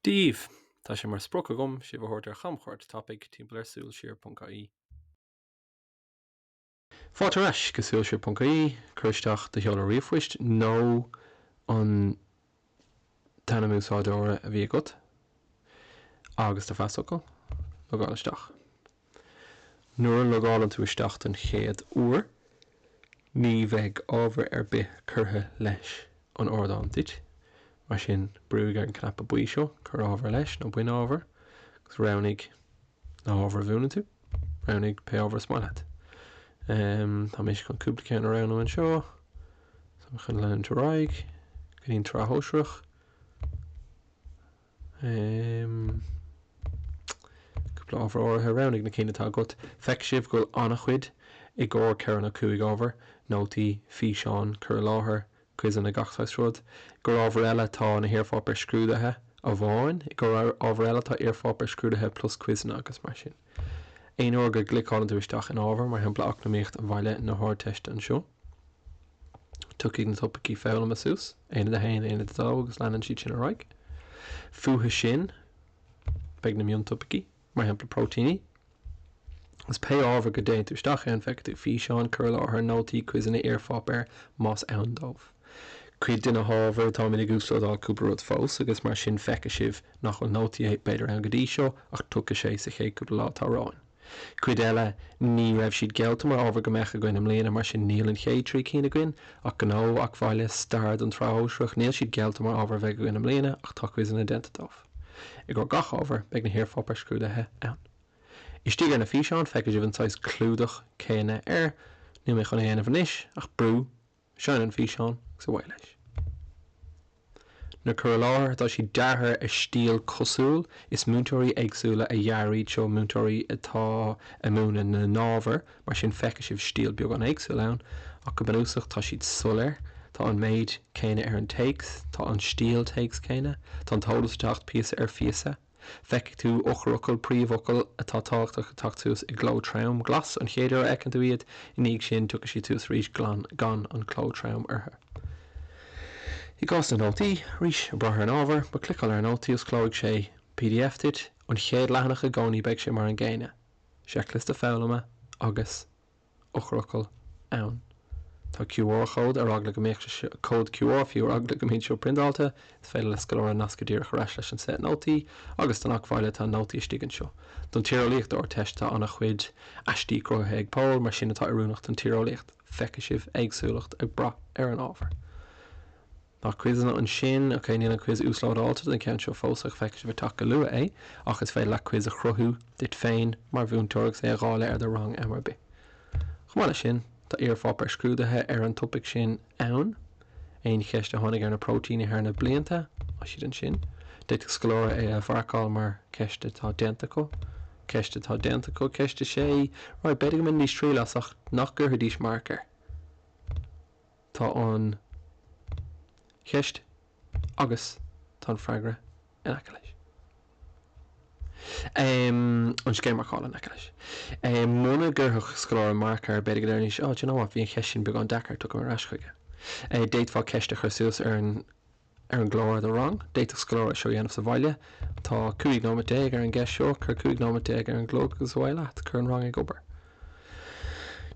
daoibh! Tá sé mar sprioc agam sibh a thabhairt ar chamchuairt tapaidh timpeall ar suilsiar.ie. Fáilte ar ais go suilsiar.ie, cuir isteach do sheoladh ríomhphoist nó an. t-ainm úsáideora a bhí agat agus do phasfhocal. Logáil isteach. Nuair a logálann tú isteach den chéad uair, ní bheidh ábhar ar bith curtha leis an ardán duit, mar sin brúigh ar an cnaipe buí seo, Cuir Ábhar Leis nó Bain Ábhar, agus roghnaigh. na hábhair a mhúineann tú. Roghnaigh pé ábhar is maith leat. Tá mise chun cúpla ceann a roghnú anseo. Tá mé chun leanúint ar aghaidh go dtí an tSraith Shóisearach. Cúpla ábhar áirithe, roghnaigh na cinn atá agat. Feicfidh sibh go bhfuil an-chuid i gcomhair ceithre nó cúig ábhar, nótaí, físeáin, cur i láthair, quizeanna, gach saghas rud. I gcomhair ábhar eile tá na hiarpháipéir scrúdaithe amháin. I gcomhair ábhar eile tá iarpháipéir scrúdaithe plus quizeanna agus mar sin. Aon uair go gcliceálann tú isteach in ábhar, mar shampla Eacnamaíocht Bhaile na hArdteiste anseo, tiocfaidh na topaicí foghlama suas, Aonad a haon, Aonad a dó agus leanann siad sin ar aghaidh. Fúthu sin beidh na miontopaicí. mar shampla próitéiní agus pé ábhar go dtéann tú isteach ann feicfidh tú físeáin, cur i láthair, nótaí, quizeanna, iarpháipéir más ann dóibh. Cuid de na hábhair, táimid ag uaslódáil cúpla rud fós agus mar sin feicfidh sibh nach bhfuil nótaí b'fhéidir ann go dtí seo ach tiocfaidh sé sa chéad cúpla lá atá romhainn. Cuid eile ní raibh siad geallta mar ábhar go mbeadh againn i mbliana mar sin níl an chéad trí cinn againn ach Gnó, Eac Bhaile, Stair don tSraith Shóisearach, níl siad geallta mar ábhar a bheidh againn i mbliana ach tá quizeanna déanta dóibh. I gcomhair gach ábhair beidh na hiarpháipéir scrúdaithe ann. Istigh ar na físeáin feicfidh sibh an saghas clúdach céanna air. Níl mé chun é a dhéanamh anois ach brú, seinn an físeán agus away leis. Na cur i láthair tá siad deartha ar stíl cosúil, is múinteoirí éagsúla a dhear iad seo, múinteoirí atá ag múineadh na n-ábhar, Mar sin feicfidh sibh stíl beagán éagsúil ann ach go bunúsach tá siad soiléir, tá an méid céanna ar an téacs, tá an stíl téacs céanna, tá an t-eolas ag teacht píosa ar phíosa. Feicfidh tú eochairfhocail, príomhfhocail atá tábhachtach ag teacht suas i gcló trom, glas an chéad uair a fheiceann tú iad, i ndiaidh sin tiocfaidh siad suas arís gan an cló trom orthu. I gcás na nótaí, arís, ag brath ar an ábhar, má chliceálann ar an nótaí osclóidh sé pdf duit, an chéad leathanach i gcónaí beidh sé mar an gcéanna. seicliosta foghlama agus eochairfhocail ann. Tá QR chód ar eagla go mbeadh sé seo, cód QR fiú, ar eagla go mbeadh sé seo priondáilte, is féidir le scoláire nascadh díreach ar ais leis an set nótaí agus don acmhainn eile atá nótaí istigh anseo. Don tíreolaíocht Ardteiste tá ana chuid aistí cruthaithe ag Pól mar sin atá oiriúnach don tíreolaíocht. Feicfidh sibh éagsúlacht ag braith ar an ábhar. Tá quizeanna ansin. Ok, níl an quiz uaslódáilte don cheann seo fós ach feicfidh sibh ag teacht go luath é ach is féidir leat quiz a chruthú duit féin mar mhúinteoir agus é a dháileadh ar do rang am ar bith. Chomh maith leis sin, tá iarpháipéir scrúdaithe ar an topaic sin ann. Aon cheist a tháinig ar na próitéiní thar na blianta, tá siad ansin. D'fhéadfadh scoláire é a mharcáil mar cheist atá déanta acu. Ceist atá déanta acu, ceist a sé, Right, b'fhéidir go mbainfidís triail as ach nach gcuirfidís marc air. Tá an cheist agus tá an freagra in aice leis. an scéim marcála in aice leis. Muna gcuirfeadh scoláire marc air, b'fhéidir go ndéarfaidís, 'Á, do you know what, bhí an cheist sin beagán deacair, tiocfaidh mé ar ais chuige. D'fhéadfá ceist a chur suas ar an. ar an gclár do rang. D'fhéadfadh scoláire é seo a dhéanamh sa bhaile. Tá 15 nóiméad ar an gceist seo. Cuir 15 nóiméad ar an gclog agus away leat. Cuir an rang ag obair.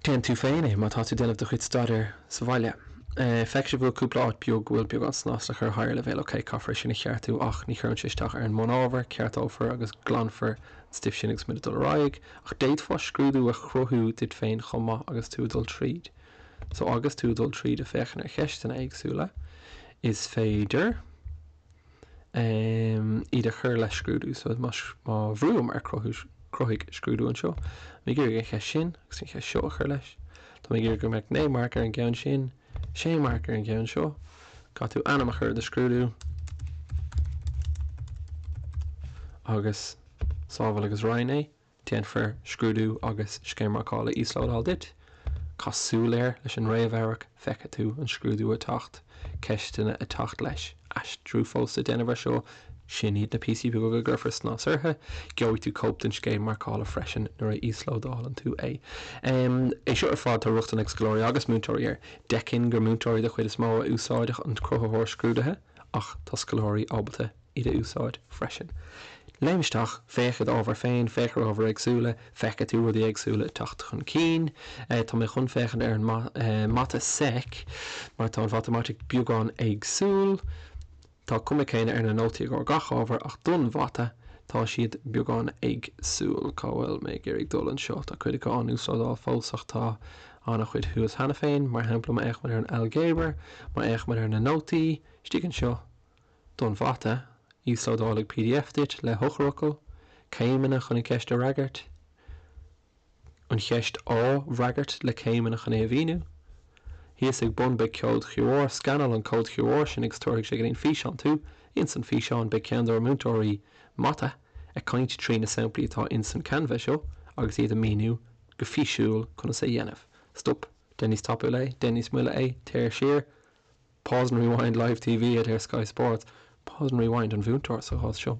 Déan tú féin é má tá tú ag déanamh do chuid staidéir sa bhaile. Feicfidh sibh go bhfuil cúpla áit beag go bhfuil beagán snas le cur Higher leibhéal ok, caithfear é sin a cheartú ach ní chuireann sé isteach ar an mbunábhar, ceartófar agus glanfar an stuif sin agus muid ag dul ar aghaidh. Ach d'fhéadfá scrúdú a chruthú duit féin chomh maith agus tú ag dul tríd. So agus tú ag dul tríd ag féachaint ar cheisteanna éagsúla, is féidir em iad a chur le scrúdú. So má má bhrúim ar cruthú cruthaigh scrúdú anseo, mé ag iarraidh an cheist sin agus an cheist seo a chur leis. Tá mé ag iarraidh go mbeadh naoi marc ar an gceann sin, sé marc ar an gceann seo. Caithfidh tú ainm a chur le do scrúdú agus sábháil agus roinn é. Déanfar scrúdú agus scéim marcála íoslódáil duit. Caith súil air leis an réamhamharc feicfidh tú an scrúdú ag teacht, ceisteanna ag teacht leis, aistriú fós le déanamh ar seo, sin iad na píosaí beaga go gcuirfear snas orthu. Gheobhaidh tú cóip den scéim marcála freisin nuair a íoslódálann tú é. É seo ar fad tá rochtain ag scoláirí agus múinteoirí air. D'fheicfinn gur múinteoirí de chuid is mó a úsáidfeadh an cruthaitheoir scrúdaithe ach tá scoláirí ábalta a. iad a úsáid freisin. Léim isteach, féach id ábhar féin, féach ar ábhair éagsúla, feicfidh tú rudaí éagsúla ag teacht chun cinn. Tá mé chun féachaint ar an Mata sec mar tá an Mhatamaitic beagán éagsúil. Tá an chuma chéanna ar na nótaí i gcomhair gach ábhair ach don Mhata tá siad beagán éagsúil. Cá bhfuil mé ag iarraidh dul anseo? Tá cuid acu á n-uaslódáil fós ach tá an-chuid thuas cheana féin. Mar shampla, má fhéachaimid ar an Ailgéabar, má fhéachaimid ar na nótaí istigh anseo, don mhata, íoslódálfaidh pdf duit le heochairfhocail, céimeanna chun an cheist a fhreagairt, an cheist á freagairt, le céimeanna chun é a mhíniú. Thíos ag bun beidh ceod QR, scannáil an cód QR sin agus tabharfaidh sé go dtí an físeán tú. Ins an físeán beidh ceann dár múinteoirí mata ag caint trí na samplaí atá ins an Canva seo agus iad ag míniú go físiúil conas é a dhéanamh. Stop, déan níos tapúla é, déan níos moille é, téir siar. Pause and rewind, Live TV ad ar Sky Sports. Pause and rewind, an mhúinteoir sa chás seo.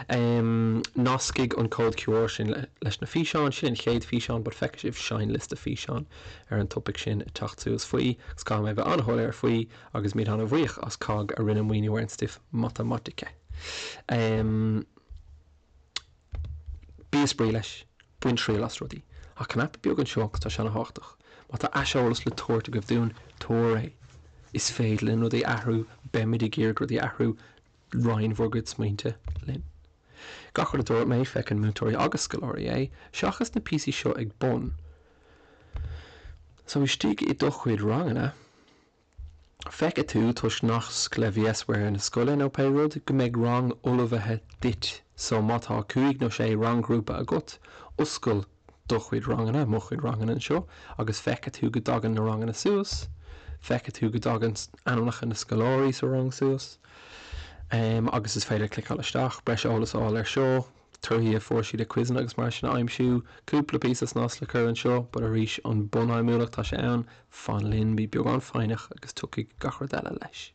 Em nascfaidh an cód QR sin leis na físeáin, sin an chéad físeán but feicfidh sibh seinnliosta físeán ar an topaic sin ag teacht suas faoi agus caithfidh mé bheith an-shoiléir faoi agus muid an-bhuíoch as COGG a rinne maoiniú ar an stuif matamaitice. Bíodh spraoi leis, bain triail as rudaí. An cnaipe beag anseo agus tá sé an-tábhachtach. Má tá aiseolas le tabhairt agaibh dúinn, tabhair é. Is féidir linn rudaí a athrú, beimid ag iarraidh rudaí a athrú, roinn bhur gcuid smaointe linn. Gach rud a dúirt mé, feiceann múinteoirí agus scoláirí é, seachas na píosaí seo ag bun. So istigh i do chuid ranganna. Feicfidh tú, toisc nasc le VSware na scoile nó pé rud, go mbeidh rang ullmhaithe duit so má tá cúig nó sé rang-ghrúpa agat, oscail do chuid ranganna, mo chuid ranganna anseo agus feicfidh tú go dtagann na ranganna suas, feicfidh tú go dtagann ainmneacha na scoláirí sa rang suas. Agus is féidir cliceáil isteach, breis eolas a fháil ar seo. torthaí a fuair siad i gcuizeanna agus mar sin a aimsiú. Cúpla píosa snas le cur anseo but arís an bunfheidhmiúlacht tá sé ann. Fan linn, bí beagán foighneach agus tiocfaidh gach rud eile leis.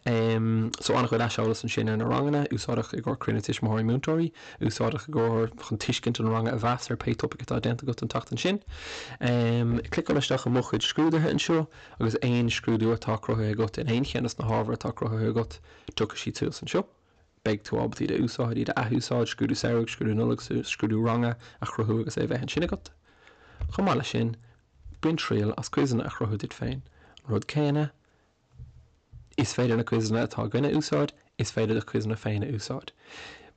Em so an-chuid aiseolas ansin ar na ranganna, úsáideach i gcomhair cruinnithe tuismitheoirí múinteoirí, úsáideach i gcomhair chun tuiscint an ranga a mheas ar pé topaic atá déanta agat an tseachtain sin. Em cliceáil isteach i mo chuid scrúduithe anseo agus aon scrúdú atá cruthaithe agat in aon cheann des na hábhair atá cruthaithe agat tiocfaidh siad suas anseo. beidh tú ábalta iad a úsáid, iad a athúsáid, scrúdú samhraidh, scrúdú Nollag, scrúdú ranga a chruthú agus é a bheith ansin agat. Chomh maith leis sin, bain triail as quizeanna a chruthú duit féin. An rud céanna, is féidir na quizeanna atá againn a úsáid, is féidir do quizeanna féin a úsáid.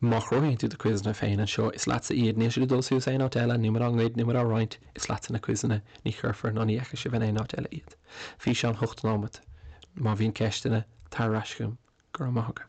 Má chruthaíonn tú do quizeanna féin anseo, is leatsa iad, níl siad ag dul suas aon áit eile, níl muid á ngoid, níl muid á roinnt, is leatsa na quizeanna, ní chuirfear ná ní fheicfidh sibh in aon áit eile iad. Bhí sé sin faoi 8 nóiméad, Má bhíonn ceisteanna, tar ar ais chugam. Go raibh maith agat.